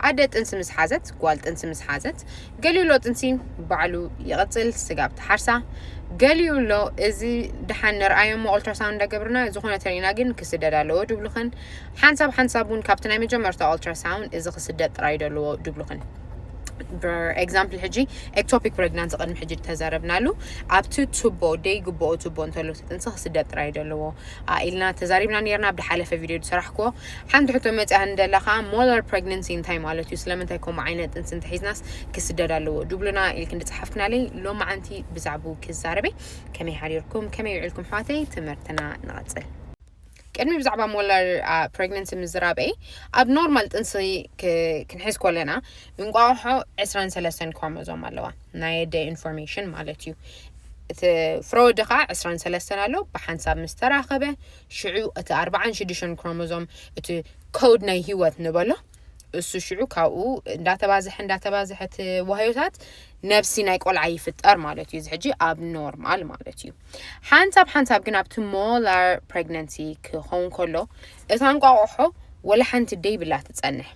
ኣደ ጥንሲ ምስ ሓዘት ጓል ጥንሲ ምስ ሓዘት ገሊኡሎ ጥንሲ ባዕሉ ይቕፅል ስጋብ ትሓርሳ ገሊኡሎ እዚ ድሓን ንርኣዮሞ ኦልትራሳውንድ እንዳገብርና ዝኾነ ተሪእና ግን ክስደድ ኣለዎ ድብሉኽን ሓንሳብ ሓንሳብ እውን ካብቲ ናይ መጀመርታ ኦልትራሳውንድ እዚ ክስደድ ጥራይ ደለዎ ድብሉኽን ኤግዛምፕል ሕጂ ኤክቶፒክ ፕሬግናንሲ ቅድሚ ሕጂ ተዛረብናሉ ኣብቲ ቱቦ ደይግብኦ ቱቦ እንተሎ ጥንሲ ክስደድ ጥራይ ደለዎ ኢልና ተዛሪብና ነርና ብሓለፈ ቪድዮ ዝሰራሕክዎ ሓንቲ ሕቶ መጺኣኒ ደላ ከኣ ሞለር ፕረግነንሲ እንታይ ማለት እዩ ስለምንታይ ከምኡ ዓይነት ጥንሲ እንተሒዝናስ ክስደድ ኣለዎ ድብሉና ኢልኪ እንድጸሓፍክናለይ ሎማዓንቲ ብዛዕብኡ ክዛረብ እየ ከመይ ሓዲርኩም ከመይ ውዒልኩም ኣሕዋተይ ትምህርትና ንቐጽል ቅድሚ ብዛዕባ ሞለር ፕረግነንሲ ምዝራበይ ኣብ ኖርማል ጥንሲ ክንሕዝ ኮለና እንቋቑሖ ዕስራን ሰለስተን ክሮሞዞም ኣለዋ ናይ ኣደ ኢንፎርሜሽን ማለት እዩ እቲ ፍረወዲ ከዓ ዕስራን ሰለስተን ኣሎ ብሓንሳብ ምስ ተራኸበ ሽዑ እቲ ኣርባዓን ሽዱሽተን ክሮሞዞም እቲ ኮድ ናይ ህይወት ንበሎ እሱ ሽዑ ካብኡ እንዳተባዝሐ እንዳተባዝሐ እቲ ዋህዮታት ነብሲ ናይ ቆልዓ ይፍጠር ማለት እዩ እዚ ሕጂ ኣብ ኖርማል ማለት እዩ ሓንሳብ ሓንሳብ ግን ኣብቲ ሞላር ፕሬግነንሲ ክኸውን ከሎ እታ እንቋቑሖ ወላ ሓንቲ ደይብላ ትጸንሕ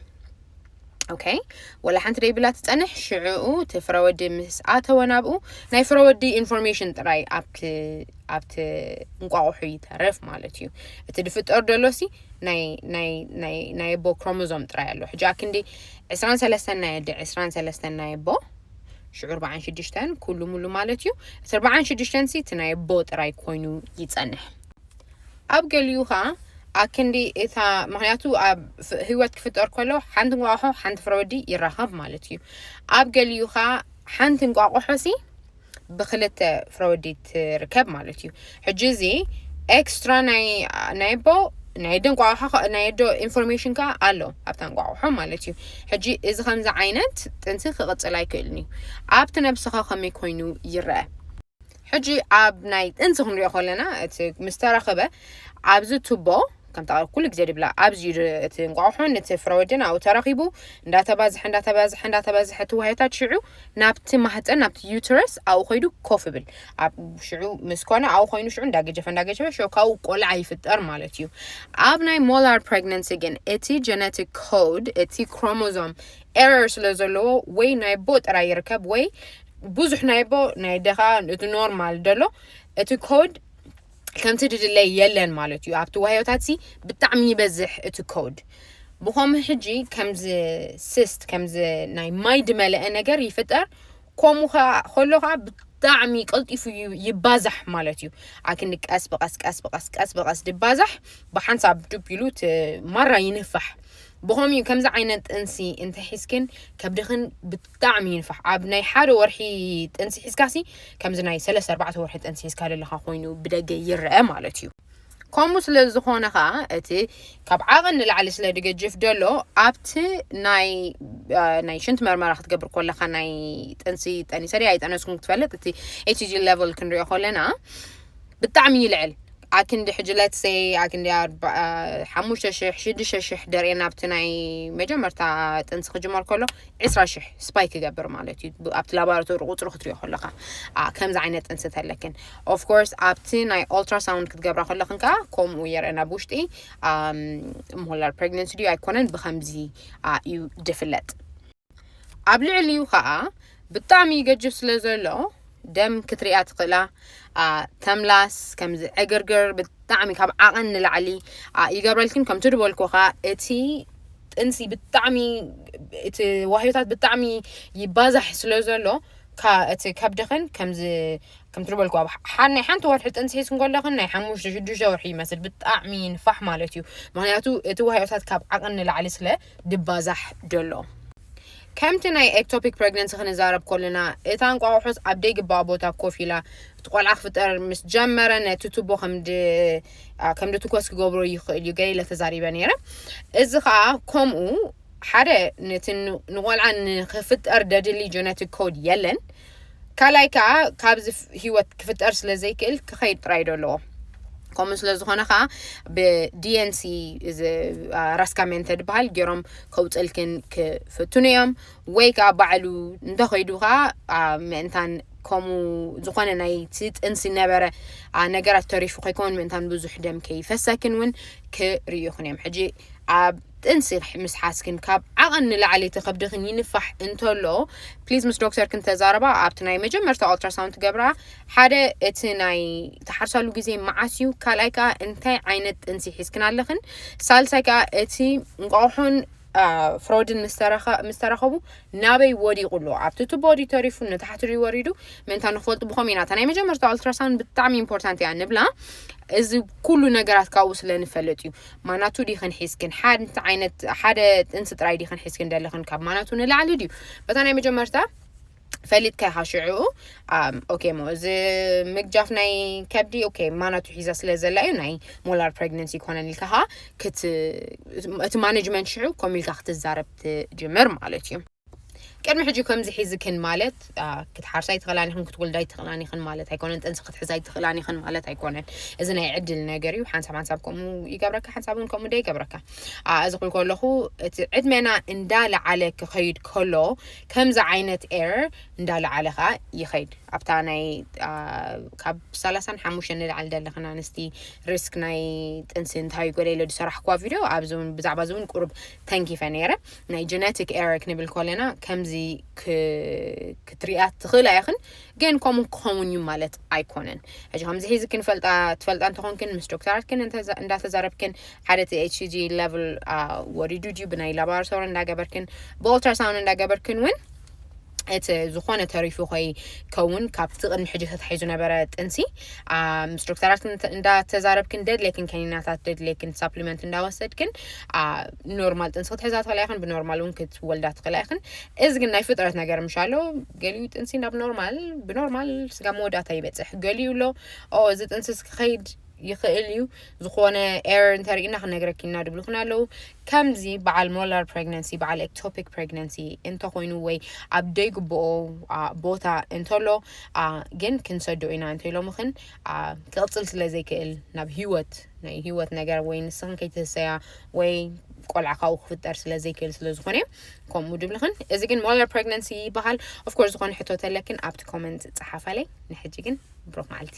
ኦኬ ወላ ሓንቲ ደይብላ ትፀንሕ ሽዕኡ እቲ ፍረወዲ ምስ ኣተወ ናብኡ ናይ ፍረወዲ ኢንፎርሜሽን ጥራይ ኣብቲ ኣብቲ እንቋቑሑ ይተረፍ ማለት እዩ እቲ ድፍጠር ደሎ ሲ ናይ ኣቦ ክሮሞዞም ጥራይ ኣሎ ሕጂ ኣክንዲ ዕስራን ሰለስተን ናይ ኣደ ዕስራን ሰለስተን ናይ ኣቦ ሽዑ ኣርባዓን ሽዱሽተን ኩሉ ሙሉ ማለት እዩ እቲ ኣርባዓን ሽዱሽተን ሲ እቲ ናይ ኣቦ ጥራይ ኮይኑ ይፀንሕ ኣብ ገሊኡ ከኣ ኣክንዲ እታ ምክንያቱ ኣብ ህይወት ክፍጠር ከሎ ሓንቲ እንቋቑሖ ሓንቲ ፍረ ወዲ ይራኸብ ማለት እዩ። ኣብ ገሊኡ ከኣ ሓንቲ እንቋቑሖ ሲ ብክልተ ፍረ ወዲ ትርከብ ማለት እዩ። ሕጂ እዚ ኤክስትራ ናይ ናይ ኣቦ ናይ ኣደ እንቋቑሖ ከ- ናይ ኣደ ኢንፎርሜሽን ከኣ ኣሎ ኣብታ እንቋቑሖ ማለት እዩ። ሕጂ እዚ ከምዚ ዓይነት ጥንሲ ክቕጽል ኣይክእልን እዩ። ኣብቲ ነብስኻ ከመይ ኮይኑ ይረኣ? ሕጂ ኣብ ናይ ጥንሲ ክንሪኦ ከለና እቲ ምስ ተረኽበ ኣብዚ ቱቦ ከምታ ኩሉ ግዜ ድብላ ኣብዚ እዩ እቲ እንቋቑሖን እቲ ፍረወድን ኣብኡ ተረኺቡ እንዳተባዝሐ እንዳተባዝሐ እንዳተባዝሐ እቲ ዋህዮታት ሽዑ ናብቲ ማህፀን ናብቲ ዩትረስ ኣብኡ ኮይዱ ኮፍ ብል ኣብ ሽዑ ምስ ኮነ ኣብኡ ኮይኑ ሽዑ እንዳገጀፈ እንዳገጀፈ ሽዑ ካብኡ ቆልዓ ይፍጠር ማለት እዩ ኣብ ናይ ሞላር ፕሬግነንሲ ግን እቲ ጀነቲክ ኮድ እቲ ክሮሞዞም ኤረር ስለ ዘለዎ ወይ ናይ ቦ ጥራይ ይርከብ ወይ ብዙሕ ናይ ኣቦ ናይ ኣደ ከዓ እቲ ኖርማል ደሎ እቲ ኮድ ከምቲ ድድለይ የለን ማለት እዩ ኣብቲ ዋህዮታት ሲ ብጣዕሚ ይበዝሕ እቲ ኮድ ብኸም ሕጂ ከምዚ ስስት ከምዚ ናይ ማይ ድመለአ ነገር ይፍጠር ከምኡ ከዓ ከሎ ከዓ ብጣዕሚ ቀልጢፉ ይባዛሕ ማለት እዩ ኣክኒ ቀስ ብቀስ ቀስ ብቀስ ቀስ ብቀስ ድባዛሕ ብሓንሳብ ዱብ ኢሉ እቲ ማራ ይንፋሕ ብኸምኡ ከምዚ ዓይነት ጥንሲ እንተሒዝክን ከብድኽን ብጣዕሚ ይንፋሕ ኣብ ናይ ሓደ ወርሒ ጥንሲ ሒዝካሲ ከምዚ ናይ ሰለስተ ኣርባዕተ ወርሒ ጥንሲ ሒዝካ ዘለካ ኮይኑ ብደገ ይረአ ማለት እዩ ከምኡ ስለ ዝኾነ ከዓ እቲ ካብ ዓቐን ንላዕሊ ስለ ድገጅፍ ደሎ ኣብቲ ናይ ናይ ሽንት መርመራ ክትገብር ኮለካ ናይ ጥንሲ ጠኒሰ ድያ ኣይጠነስኩም ክትፈልጥ እቲ ኤችጂ ሌቨል ክንሪኦ ኮለና ብጣዕሚ ይልዕል ኣክንዲ ሕጂ ለትሰይ ኣክንዲ ሓሙሽተ ሽሕ ሽዱሽተ ሽሕ ደርእየና ኣብቲ ናይ መጀመርታ ጥንሲ ክጅመር ከሎ ዕስራ ሽሕ ስፓይክ ይገብር ማለት እዩ ኣብቲ ላቦራቶሪ ቁፅሪ ክትሪኦ ከለካ ከምዚ ዓይነት ጥንሲ ተለክን ኦፍኮርስ ኣብቲ ናይ ኦልትራሳውንድ ክትገብራ ከለክን ከዓ ከምኡ የርእና ኣብ ውሽጢ ሞላር ፕሬግነንሲ ድዩ ኣይኮነን ብከምዚ እዩ ድፍለጥ ኣብ ልዕሊኡ ከኣ ብጣዕሚ ይገጅፍ ስለ ዘሎ ደም ክትሪኣ ትኽእላ ተምላስ ከምዚ ዕግርግር ብጣዕሚ ካብ ዓቐን ንላዕሊ ይገብረልክን ከምቲ ድበልኩ ከኣ እቲ ጥንሲ ብጣዕሚ እቲ ዋህዮታት ብጣዕሚ ይባዛሕ ስለ ዘሎ እቲ ከብድኽን ከምዚ ከምቲ ዝበልኩ ኣብ ናይ ሓንቲ ወርሒ ጥንሲ ሒዝክን ከለኽን ናይ ሓሙሽተ ሽዱሽተ ወርሒ ይመስል ብጣዕሚ ንፋሕ ማለት እዩ ምክንያቱ እቲ ዋህዮታት ካብ ዓቐን ንላዕሊ ስለ ድባዛሕ ደሎ። ከምቲ ናይ ኤክቶፒክ ፕረግነንሲ ክንዛረብ ኮለና እታ እንቋቑሖስ ኣብ ደይግባኣ ቦታ ኮፍ ኢላ እቲ ቆልዓ ክፍጠር ምስ ጀመረ ነቲ ቱቦ ከምድ ከምድ ትኮስ ክገብሮ ይኽእል እዩ ገለ ኢለ ተዛሪበ ነይረ። እዚ ከኣ ከምኡ ሓደ ነቲ ንቆልዓ ንክፍጠር ደድሊ ጀነቲክ ኮድ የለን ካልኣይ ከኣ ካብዚ ህይወት ክፍጠር ስለ ዘይክእል ክኸይድ ጥራይ ዶ ኣለዎ ከምኡ ስለ ዝኾነ ከዓ ብዲኤንሲ ራስካ ሜንተ ድበሃል ገይሮም ከውፅልክን ክፍትኑ እዮም ወይ ከዓ ባዕሉ እንተኸይዱ ከዓ ምእንታን ከምኡ ዝኾነ ናይቲ ጥንሲ ነበረ ነገራት ተሪፉ ከይከውን ምእንታን ብዙሕ ደም ከይፈሰክን እውን ክርእዩኹን እዮም ሕጂ ኣብ ጥንሲ ምስ ሓዝክን ካብ ዓቐን ንላዕሊ እቲ ከብድኽን ይንፋሕ እንተሎ ፕሊዝ ምስ ዶክተርክን ተዛረባ። ኣብቲ ናይ መጀመርታ ኦልትራሳውንድ ትገብራ ሓደ እቲ ናይ ትሓርሳሉ ግዜ መዓስ እዩ፣ ካልኣይ ከኣ እንታይ ዓይነት ጥንሲ ሒዝክን ኣለኽን፣ ሳልሳይ ከኣ እቲ እንቋቑሖን ፍሮድን ምስ ተራኸቡ ናበይ ወዲቑ ኣሎ፣ ኣብቲ ቱቦ ድዩ ተሪፉ ንታሕቲ ድዩ ወሪዱ ምእንታ ንክፈልጡ ብኸመይ ኢና እታ ናይ መጀመርታ ኦልትራሳውንድ ብጣዕሚ ኢምፖርታንት እያ ንብላ እዚ ኩሉ ነገራት ካብኡ ስለ ንፈልጥ እዩ። ማናቱ ዲኽን ሒዝክን ሓንቲ ዓይነት ሓደ ጥንሲ ጥራይ ዲኽን ሒዝክን ደለኽን ካብ ማናቱ ንላዕሊ ድዩ በታ ናይ መጀመርታ ፈሊጥካ ኢኻ ሽዑኡ ኦኬ እሞ እዚ ምግጃፍ ናይ ከብዲ ኦኬ ማናቱ ሒዛ ስለ ዘላ እዩ ናይ ሞላር ፕሬግነንሲ ይኮነን ኢልካ ኸዓ እቲ ማኔጅመንት ሽዑ ከምኡ ኢልካ ክትዛረብ ትጅምር ማለት እዩ ቅድሚ ሕጂ ከምዚ ሒዝክን ማለት ክትሓርሳ ኣይትኽእላን ኢኽን ክትወልዳ ኣይትኽእላን ኢኽን ማለት ኣይኮነን ጥንሲ ክትሕዛ ኣይትኽእላን ኢኽን ማለት ኣይኮነን እዚ ናይ ዕድል ነገር እዩ ሓንሳብ ሓንሳብ ከምኡ ይገብረካ ሓንሳብ እውን ከምኡ ደ ይገብረካ እዚ ክብል ከለኹ እቲ ዕድመና እንዳለዓለ ክኸይድ ከሎ ከምዚ ዓይነት ኤር እንዳለዓለ ከዓ ይኸይድ ኣብታ ናይ ካብ ሰላሳን ሓሙሽተ ንላዕሊ ዘለኽን ኣንስቲ ሪስክ ናይ ጥንሲ እንታይ እዩ ጎደለ ዝሰራሕኩዋ ቪድዮ ኣብዚ እውን ብዛዕባ እዚ እውን ቁሩብ ተንኪፈ ነይረ ናይ ጀነቲክ ኤረ ክንብል ኮለና ከምዚ ክትሪኣ ትኽእል ኣይኽን ግን ከምኡ ክኸውን እዩ ማለት ኣይኮነን ሕጂ ከምዚ ሒዚ ክንፈልጣ ትፈልጣ እንተኾንክን ምስ ዶክተራትክን እንዳተዛረብክን ሓደ እቲ ኤችሲጂ ሌቭል ወሪዱ ድዩ ብናይ ላቦራቶሪ እንዳገበርክን ብኦልትራሳውንድ እንዳገበርክን እውን እቲ ዝኾነ ተሪፉ ከይከውን ካብቲ ቅድሚ ሕጂ ተታሒዙ ነበረ ጥንሲ ምስ ዶክተራት እንዳተዛረብክን ደድለይክን ከኒናታት ደድለይክን ሳፕሊመንት እንዳወሰድክን ኖርማል ጥንሲ ክትሕዛ ትኽእላ ይኽን ብኖርማል እውን ክትወልዳ ትኽእላ ይኽን እዚ ግን ናይ ፍጥረት ነገር ምሻ ኣሎ ገሊኡ ጥንሲ ናብ ኖርማል ብኖርማል ስጋ መወዳእታ ይበፅሕ ገሊኡ ኣሎ እዚ ጥንሲ ክኸይድ ይኽእል እዩ ዝኾነ ኤረር እንተሪእና ክነግረኪ እና ድብሉክን ኣለው ከምዚ በዓል ሞላር ፕሬግናንሲ በዓል ኤክቶፒክ ፕሬግናንሲ እንተኮይኑ ወይ ኣብ ደይግብኦ ቦታ እንተሎ ግን ክንሰዶ ኢና እንተኢሎምክን ክቕፅል ስለ ዘይክእል ናብ ሂወት ናይ ሂወት ነገር ወይ ንስኽን ከይትህሰያ ወይ ቆልዓ ካብኡ ክፍጠር ስለ ዘይክእል ስለ ዝኾነ ከምኡ ድብልኽን እዚ ግን ሞላር ፕሬግናንሲ ይበሃል ኦፍኮርስ ዝኾነ ሕቶ ተለክን ኣብቲ ኮመንት ፀሓፋለይ ንሕጂ ግን ብሩክ መዓልቲ